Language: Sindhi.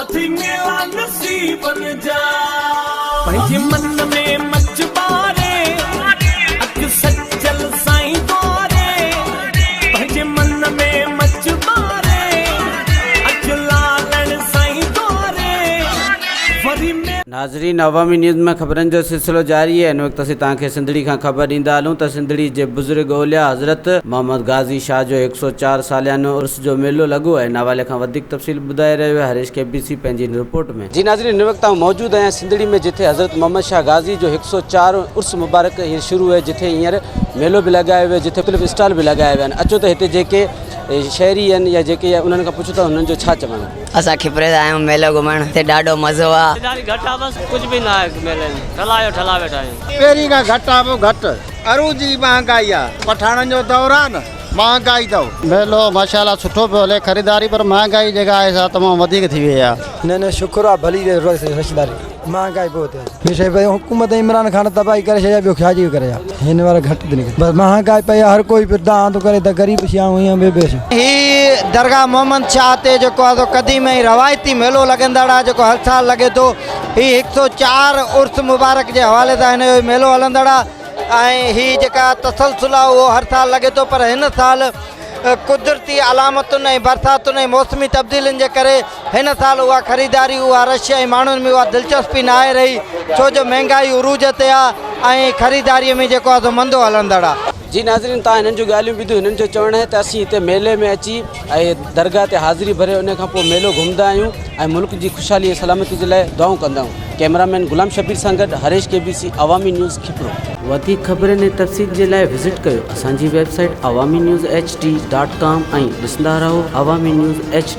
اٿي ميلا نصيبن جا پنهنجي من ۾ مچ ٻاري اک سجل سائين ڪاري پنهنجي من ۾ مچ ٻاري اک لالڻ سائين ڪاري وري ميلا ناظرين عوامي نيوز ۾ خبرن جو سلسلو جاري آهي ان وقت اسين توهان کي سنڌڙي کان خبر ڏيندا هلون ته سنڌڙي جي بزرگ اولياء حضرت محمد غازي شاهه جو هڪ سؤ چار ساليانو عرس جو ميلو لڳو آهي ان حوالي کان وڌيڪ تفصيل ٻڌائي رهيو آهي هريش ڪي بي سي پنهنجي هن رپورٽ ۾. جي ناظرين هن وقت آئون موجود آهيان سنڌڙي ۾ جتي حضرت محمد شاهه غازي جو هڪ سؤ چار عرس مبارڪ هينئر شروع هي جتي هينئر ميلو به لڳايو ويو جتي مختلف اسٽال به لڳايا ويا آهن اچو ته هتي جيڪي شهري آهن يا جيڪي انهن کان پڇون ته انهن جو ڇا چوڻ آهي. اسان کپري جا آهيون ميلو گهمڻ هتي ڏاڍو مزو آ. خريداري گهٽ آ بس ڪجھ به ناهي ميلي ۾ ٺلا جو ٺلا ويٺا آهيون. پهرين کان گهٽ آ به گهٽ. عروضي مهانگائي آ پٺاڻن جو دور آ نه. مهانگائي اٿو. ميلو ماشا الله سٺو پيو هلي خريداري پر مهانگائي جيڪا آهي سا تمام وڌيڪ ٿي وئي آهي. نه نه شڪر آ ڀلي رهي رشتداري مهانگائي بوت آ. هي شي پنهنجي حڪومت ۽ عمران خان تباهي ڪري ڇڏي آ ٻيو ڇا جي ڪري آ. هن وارا گهٽ ٿي نڪري بس مهانگائي پئي آ هر ڪوئي پيو دانهن ٿو ڪري ته غريب شي آهون ائين ٻيو شي. هي درگاهه محمد شاهه تي جيڪو آهي سو قديم ۽ روايتي ميلو لڳندڙ آهي جيڪو هر سال لڳي ٿو. هي هڪ سؤ چار عرس مبارڪ جي حوالي سان هن جو هي ميلو هلندڙ آهي. ۽ هي جيڪا تسلسل آهي اهو هر سال لڳي ٿو پر هن سال قدرتي علامتن ۽ برساتن ۽ موسمي تبديلين جي ڪري هن سال اها خريداري اها رش ۽ ماڻهن ۾ اها دلچسپي نه آهي رهي ڇو جو مهنگائي عروج تي آهي ۽ خريداري ۾ جيڪو آهي سو مندو هلندڙ آهي. جي ناظرين تهان هنن جون ڳالهيون ٻڌيون هنن جو چوڻ آهي ته اسين هتي ميلي ۾ اچي. ۽ درگاهه تي حاضري ڀري ان کان پوء ميلو گهمندا آهيون ۽ ملڪ جي خوشحالي ۽ سلامتي جي لاء دعائون ڪندا آهيون ڪئميرا مين غلام شبير سان گڏ Harish K B C Awami news Khipro. وڌيڪ خبرن ۽ تفصيل جي لاء وزٽ ڪيو اسان جي website Awami news H D dot com ۽ ڏسندا رهو عوامي نيوز ايڇ ڊي.